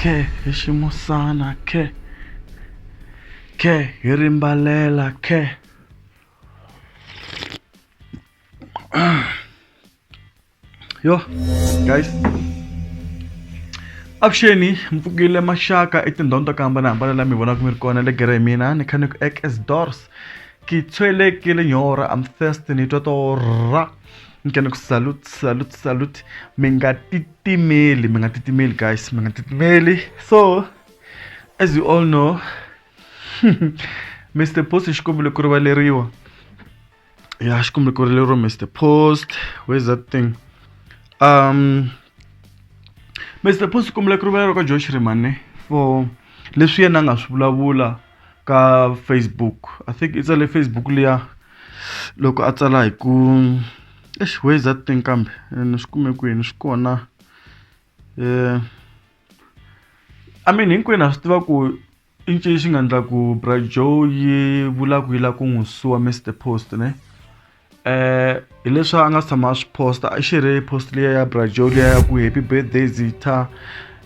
khe hi ximusana khe khe hi rimbalela khe yo guys avuxeni mi pfukile maxaka etindhawini to ka hambanahambana la mi vonaka mi ri kona le gere hi mina ni kha ni ku ek as dors ki tshwelekile nyora am thirsty ni twa to ra ni kene ku salute salute salute mi nga titimeli mi nga titimeli guys mi nga titimeli so as you all know mr post xi kombile ku rivaleriwa ya xi kombile ku rivaleriwa mr post where's that thing um mr post xi kombile ku rivaleriwa ka josh rimane for leswi yena a nga swi vulavula ka Facebook I think i tsale Facebook liya loko a tsala hi ku eish where is that thing kambe ni swi kume kwini swi kona eh I mean hinkwenu ha swi tiva ku i ncini xi nga endla ku Bra Joe yi vula ku yi lava ku n'wi suwa Mister Post ne. eh hi leswi a nga si tshama a swi posta a xi ri post liya ya brajo liya ya ku happy birthday zitha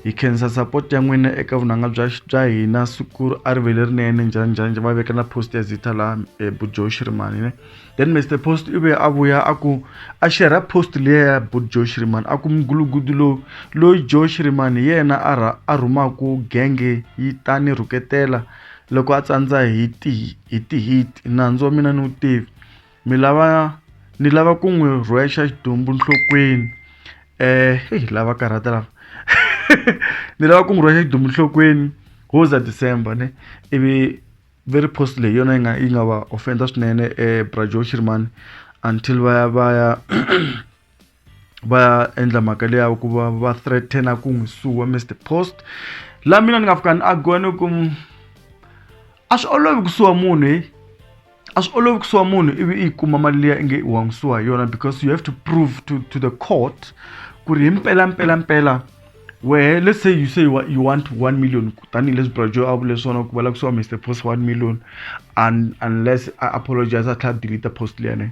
hi khensa support ya n'wina eka vunanga bya bya hina siku a ri vele rinene njhani njhani va veka na post ya zitha la eh, bujo shirimani ne then mr post i ve a vuya a ku a xerha post liya ya bujo shirimani a ku mugulugudu lowu loyi jo shirimani hi yena a rha a rhumaku genge yi ta ni rhuketela loko a tsandza hi ti hi ti-hit nandzu wa mina ni wu tivi mi lava ni lava ku n'wi rhwexa xidumbu nhlokweni um lava karhata lava ni lava ku n'wi rhwexa xidumbu nhlokweni wo za December ne ivi ve ri post leyi hi yona yi nga yi nga va offend-a swinene bra Joe Shirimani until va ya va ya. va endla mhaka leyi ya ku va va threaten-a ku n'wi suwa Mister Post. Laha mina ni nga fika ni argue-a ni ku, a swi olovi ku suwa munhu heyi. A swi olovi ku suwa munhu ivi i yi kuma mali liya inge wa n'wi suwa hi yona because you have to prove to to the court ku ri hi mpelampelampela wehe let's say you say you you want one million tanihileswi Bra Joe a vule swona ku va lava ku suwa Mister Post one million unless a apologize-a a tlhela a delete-a post liya yaleyo.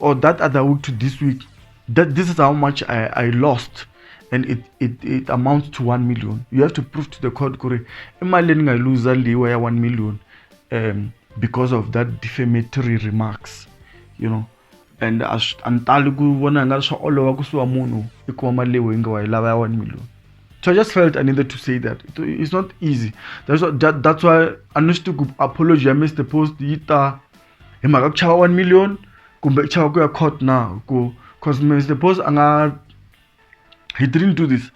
or that other week to this week that this is how much i, I lost and it, it, it amounts to 1 million you have to prove to the court kuri imali endingayiluza liwa ya 1 million um, because of that defamatory remarks you know and a ni tali ku vona nga swa olova ku suwa munhu i kuma mali leyi yi nga wa yi lava ya 1 million so i just felt i needed to say that it's not easy that's, what, that, that's why a ni swi tivi ku apology ya mr post yi ta hi mhaka ku chava one million kumbe u chava ku ya court na ku cause Mister Boss a nga he didn't do this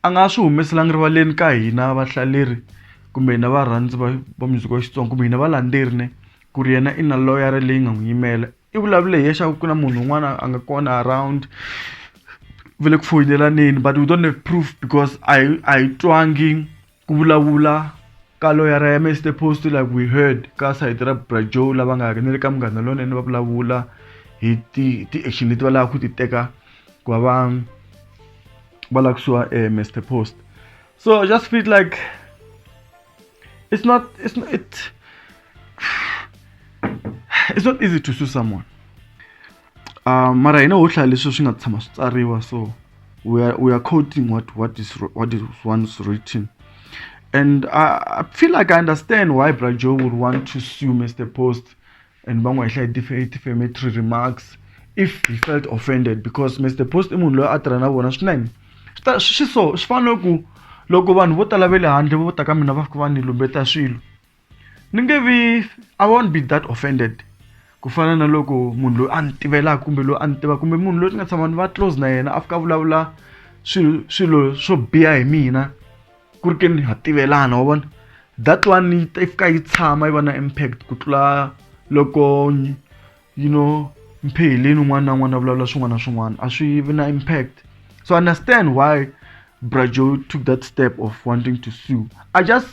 a nga swi humeselanga rivaleni ka hina vahlaleri kumbe hina varhandzi va va muziki wa Xitsonga kumbe hina valandzeri ne ku ri yena i na loyara leyi nga n'wi yimela i vulavule hi yena ku na munhu un'wana a nga kona around va le ku foyinelaneni but we don't have proof because a hi a hi twangi ku vulavula ka loyara ya mr post like we heard ka sayiti ra bra joe lava nga ri ni le ka munghana lonene va vulavula hi ti-action leti va lava ku ti teka ku va va va lava kusuwa um eh, mr post so i just feel like it's not it's not it it's not easy to sue someone uh, mara hina ho hlaya leswi swi nga tshama swi tsariwa so we are, we are quoting what, what, is, what is once written and I, I feel like I understand why Brajo would want to sue Mr. Post and Bangwa Isha defamatory remarks if he felt offended because Mr. Post i munhu loyi a tirha na vona swinene swi so swi fana ku loko vanhu vo tala ve le handle vo ta ka mina va fika va ni lumbeta swilo ni nge vi i won't be that offended ku fana na loko munhu loyi a ni tivelaka kumbe loyi a ni tivaka kumbe munhu loyi ni nga tshama ni va close na yena a fika a vulavula swilo swilo swo biha hi mina ku ri ke ni ha tivelana wa vona that one yi fika yi tshama yi va na impact ku tlula loko you know mpheheleni un'wana na un'wana a vulavula swin'wana na swin'wana a swi vi na impact so understand why brajo took that step of wanting to sue i just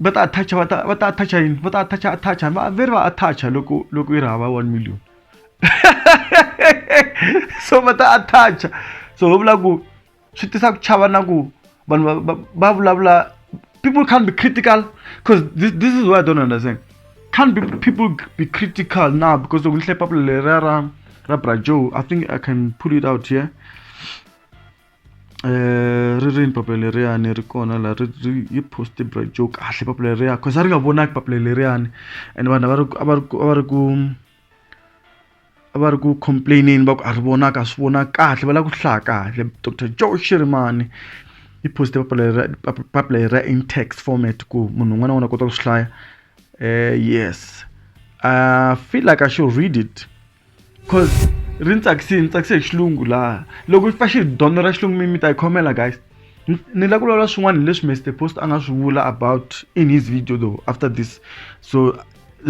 va ta attach va ta va ta attach yini va ta attach attach va ve va attach loko loko yi ri hava 1 million so va ta attach so va vula ku swi tisa ku chava na ku vanhu va vulavula people can't be critical because this, this is what i don't understand can't be people be critical now because loko ni hle papula leriya ra ra brajo i think i can put it out here yeah? ri rini papila leriyani ri kona la ri ri yi post-e yo kahle papila leriya cause a ri nga vonaki papila leriyani ene vanhu a va ri a va ri a va ri ku a va ri ku complain-eni va ku a ri vonaka a swi vonaki kahle va lava ku swi hlaya kahle doctor Joe Shirimani i post-e papila leriya papila leriya in text format ku munhu un'wana na un'wana a kota ku swi hlaya yes I feel like I should read it. cause ri ni tsakisile ni tsakise hi xilungu laha loko fa xi dyondzo ra xilungu mi mi ta yi khomela guys ni lava ku vulavula swin'wana hileswi Mister Post a nga swi vula about in his video though after this so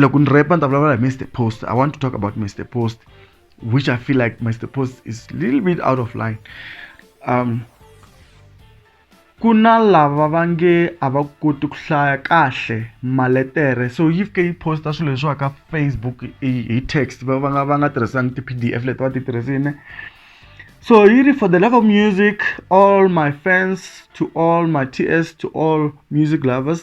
loko ni repa ni ta vulavula hi Mister Post I want to talk about Mister Post which I feel like Mister Post is little bit out of line um Ku na lava va nge a va koti ku hlaya kahle maletere so yi fike yi post-a swilo leswiwa ka Facebook hi text va va nga va nga tirhisanga ti-P_D_F leti va ti tirhisini so yi ri for the love of music all my fans to all my T_S to all music lovers.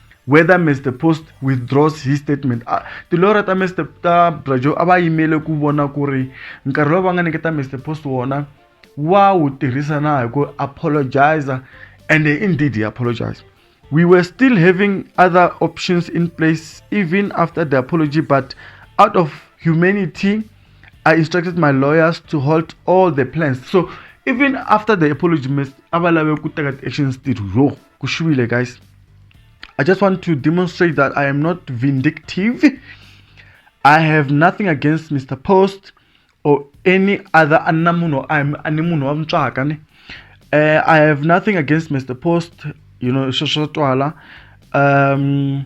whether mr post withdraws his statement ah, tilora ta mr ta brajo a va yimele ku vona ku ri nkarhi lowu va nga nyiketa mr post wona wa wu tirhisa na hi ku apologiza and indeed he apologized we were still having other options in place even after the apology but out of humanity i instructed my lawyers to halt all the plans so even after the apology a va lave ku teka ti-actions ti ro kushwile guys i just want to demonstrate that i am not vindictive i have nothing against mr post or any other anna munhu ani munhu wa mutswaka ne uh, i have nothing against mr post you know sweswo twala um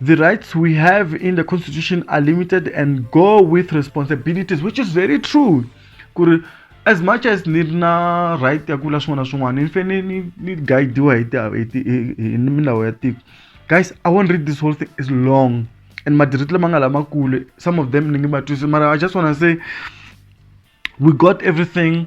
the rights we have in the constitution are limited and go with responsibilities which is very true kuri as much as ni ri na right ya ku vula swin'wana na swin'wana ni fanele ni ni guidiwa hi hi milawu ya tiko guys i won't read this whole thing is long and madiriti lama nga lamakulu some of them ni nge ma twisi mara i just wanna say we got everything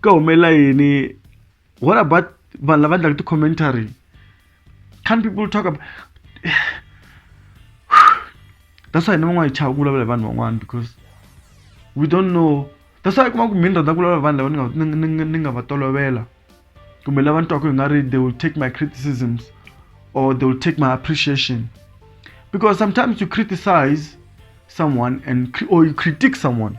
ka humelela yini what about vanhu lava endlaka ti-commentary can people talk about that's why ni van'wana hi chava ku vulavula hi vanhu van'wana because we don't know that's why i kuma ku mhini rhandza ku vulavula vanhu lava ni nga ni nga ni nga va tolovela kumbe lava ni twaka hi nga ri they will take my criticisms or they will take my appreciation because sometimes you criticize someone and or you critique someone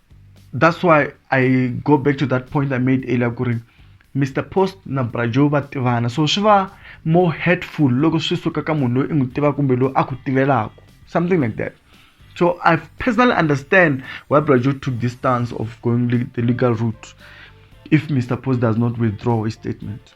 that's why i go back to that point i made earlier ku ri mr post na brajo va tivana so swi va more hurtful loko swi suka ka munhu loyi i n'wi tivaka kumbe loyi a ku tivelaka something like that so i personally understand why brajo took this stance of going the legal route if mr post does not withdraw his statement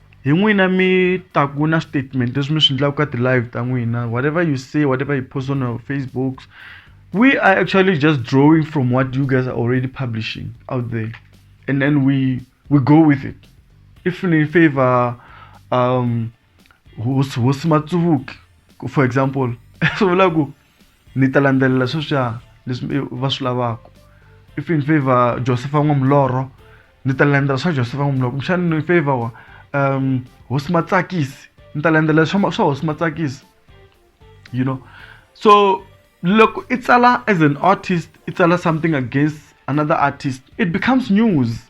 hi n'wina mi taku na statement leswi mi swi endlaka ka ti-live ta n'wina whatever you say whatever you post on our facebook we are actually just drawing from what you guys are already publishing out there and then we we go with it if ni favor um hosi hosi matsuvuki for example swi vula ku ni ta landzelela sweswiya leswi va swi lavaka if in favor josepha n'wa mulorho ni ta landzela swa josepha n'wa mulorho kumbexani ni favor wa um hosi matsakisi ni ta landzela swa swa hosi matsakisi you know so loko i tsala as an artist i tsala something against another artist it becomes news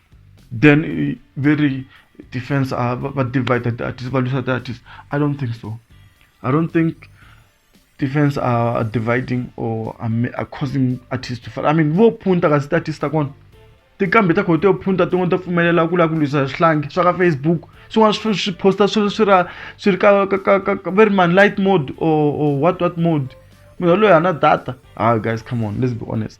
then ve ri defense a ah, va divider ti-artist va lwisa ti-artist i don't think so i don't think defense are, are dividing or are, are causing artists to fall i mean vo phunta kasi ti-artist ta kona tinkambi ta khoto yo phunta tin'wana ta pfumelela ku lava ku lwisa swihlangi swa ka facebook swin'wana swi swi posta swi swi ra swi ri ka ka ka ka va ri man light mode or or what what mode munhu yaloyi a na data ha guys come on let's be honest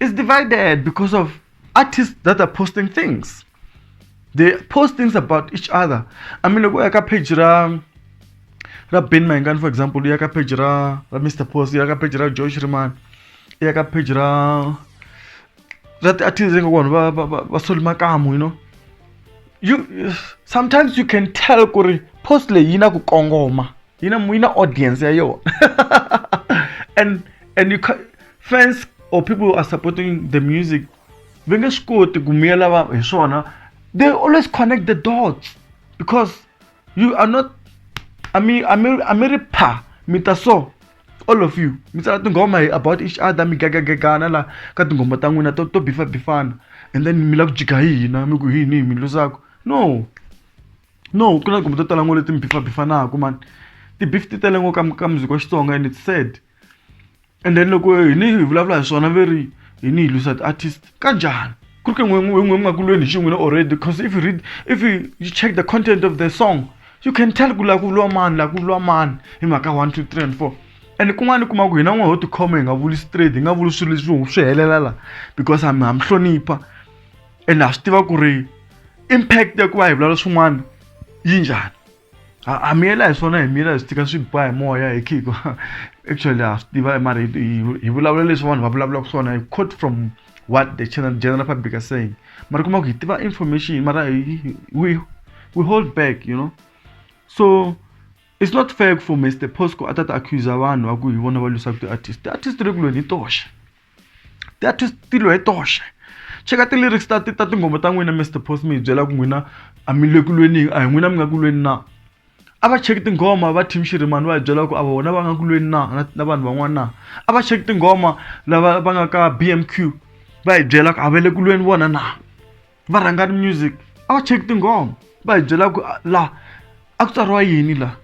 is divided because of artists that are posting things they post things about each other i mean loko u ya ka page ra ra ben mayengani for example u ya ka page ra ra mr post u ya ka page ra george riman u ya ka page ra ra ti-artist ingaku vanhu va va va soli makamu you know you sometimes you can tell ku ri post leyi yi na ku kongoma yi na yi na audience ya yona and and you can, fans or people who are supporting the music va nge swi koti ku miyela va hi swona they always connect the dots because you are not I mean, I mean, I mean, pa, mi ta so all of you mi tsala tinghoma hi about each other mi gagagagana la ka tinghoma ta n'wina to to bifa bifana and then mi la ku jika hi hina mi ku hi yini hi mi luzaka no no ku na tihomu to tala ngo leti mi bifabifanaku mani ti-beef ti tele ngo ka ka music wa Xitsonga and it's sad and then loko hi ni hi vulavula hi swona ve ri hi ni hi lwisa ti-artist ka njhani ku ri ke n'we n'we n'we mi nga ku lweni hi xi n'wina already because if you read if you, you check the content of the song you can tell ku laha ku lwa mani laha ku lwa mani hi mhaka one two three and four and kun'wana kuma ku hina n'we ho tikhoma hi nga vuli straight hi nga vuli swilo leswi swi helela la because ha mi ha mi hlonipha ene ha swi tiva ku ri impact ya ku va hi vulavula swin'wana yi njhani ha miyela hi swona hi miyela hi swi tika swi ba hi moya hi khiko actually ha swi tiva mara hi vulavula leswi vanhu va vulavulaka swona hi quote from what the channel general public are saying mara kuma ku hi tiva information mara we, we hold back you know so it's not fair for mr posco a ta ta accusa vanhu va ku hi vona va lwisaka ti-artist ti-artist ri kulweni hi toxe ti ya tilo hi toxe cheka ti-lyrics ta ta tinghoma ta n'wina Mister Post mi hi byela ku n'wina a mi le ku lwenini a hi n'wina mi nga ku lweni na a va cheki tinghoma va team Shirimani va hi byela ku a vona va nga ku lweni na na na vanhu van'wana na a va cheki tinghoma lava va nga ka BMQ va hi byela ku a va le ku lweni vona na va rhangani music a va cheki tinghoma va hi byela ku la a ku tsariwa yini la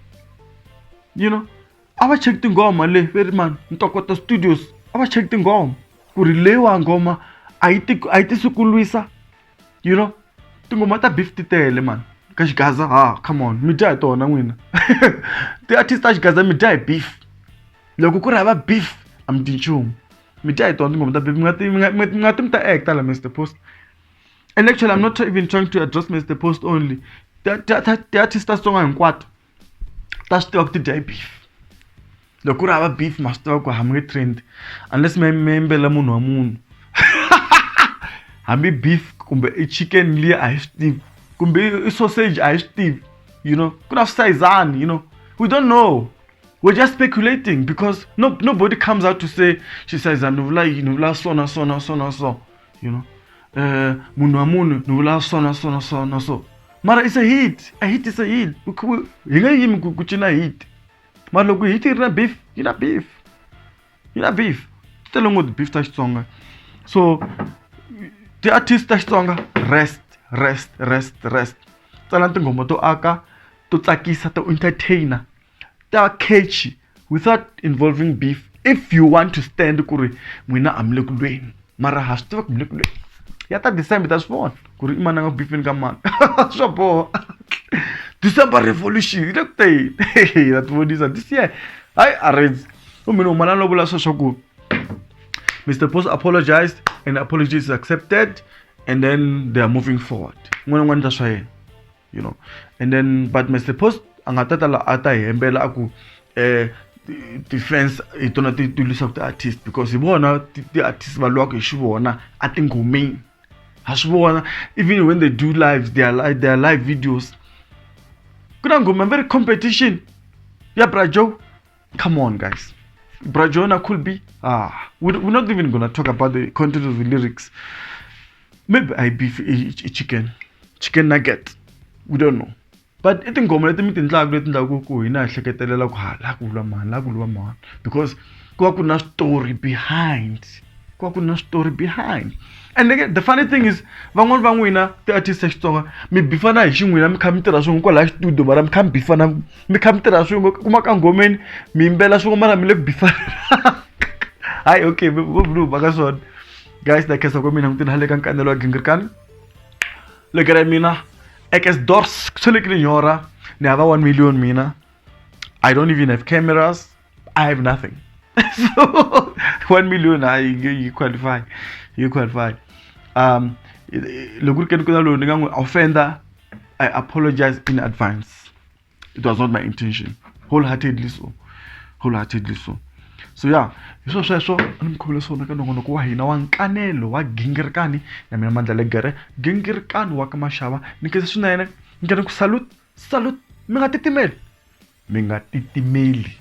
you know. a va cheki tinghoma le ve ri mani ntokoto studios a va cheki tinghoma ku ri leyiwa nghoma a yi ti a yi tisi ku lwisa you know tinghoma ta beef ti tele mani ka xigaza ha come on mi dya hi tona n'wina ti-artist ta xigaza mi dya hi beef loko ku ri hava beef a mi ti nchumu mi dya hi tona tinghoma ta beef mi nga ti mi nga mi nga ti mi ta act la Mister Post and actually I'm not even trying to address Mister Post only ti-artist ta Xitsonga hinkwato ta swi tiva ku ti dya hi beef loko ku ri hava beef ma swi tiva ku hambi nge trend unless mi mi yimbelela munhu wa munhu hambi beef kumbe i chicken liya a hi swi tivi kumbe i sausage a hi swi tivi you know ku na switayizani you know we don't know we're just speculating because no, nobody comes out to say xisayizani ni vula yini ni vula so na so na so na so you know eh munhu wa munhu ni vula so na so na so na so mara is a hit a hit is a hit We c- we- hi nge yimi ku ku cina hit mara loko hit yi ri na beef yi na beef yi na beef ti tele ngopfu beef ta xitsonga so ti-artist ta xitsonga rest rest rest rest tsalani tinghoma to aka to tsakisa to entertainer ta catch without involving beef if you want to stand ku ri n'wina a mi le ku lweni mara ha swi tiva ku mi le ku lweni ya ta december ta swi vona ku ri i mani a nga bifini ka mani swa boha december revolution yi le ku teni na ti vonisa this year hayi arrange u mina humanani lo vula swo swa ku mr post apologized and apology is accepted and then they are moving forward n'wana n'wana ta swa yena you know and then but mr post a nga ta ta la a ta hi hembela a ku eh ti-fans hi tona ti ti lwisaka ti-artist because hi vona ti-artist va lwaka hi xivona a tinghomeni ha swi vona even when they do lives their, their live videos ku na nghoma very competition ya brajoe Come on, guys. Brajona could be. Ah, we're, we're not even gonna talk about the content of the lyrics. Maybe I beef a chicken, chicken nugget. We don't know. But I think ngoma leti mi tindlaku leti ndlaku ku hina hi hleketelela ku ha la ku lwa mani la ku lwa mani because ku va ku na story behind ku va ku na story behind and again, the funny thing is van'wani va n'wina ti-artist ya xitsonga mi bifana hi xin'wina mi kha mi tirha swin'we kwalaya xitudio mara mi kha mi bifana mi kha mi tirha swin'we kuma ka nghomeni mi yimbela swin'we mara mi le ku bifarelaka hayi okay vovulu va ka swona guys na khensa ka mina mutini hale ka nkanelo wa gingirikani lekera mina ekes dors ku shelekile nyora ni hava 1 million mina i don't even have cameras I have nothing. so one million I you, you qualify. You qualify. Um loko ri ke ni kota lowu ni nga n'wi offender I apologize in advance. It was not my intention. Wholeheartedly so. Wholeheartedly so. so ya hi swo sweswo a ni mi khuvula swona ka nongonoko wa hina wa nkanelo wa gingirikani na mina mandla legere gingirikani wa ka maxava ni khensa swinene ni kene ku salute salute mi nga titimeli Mi nga titimeli.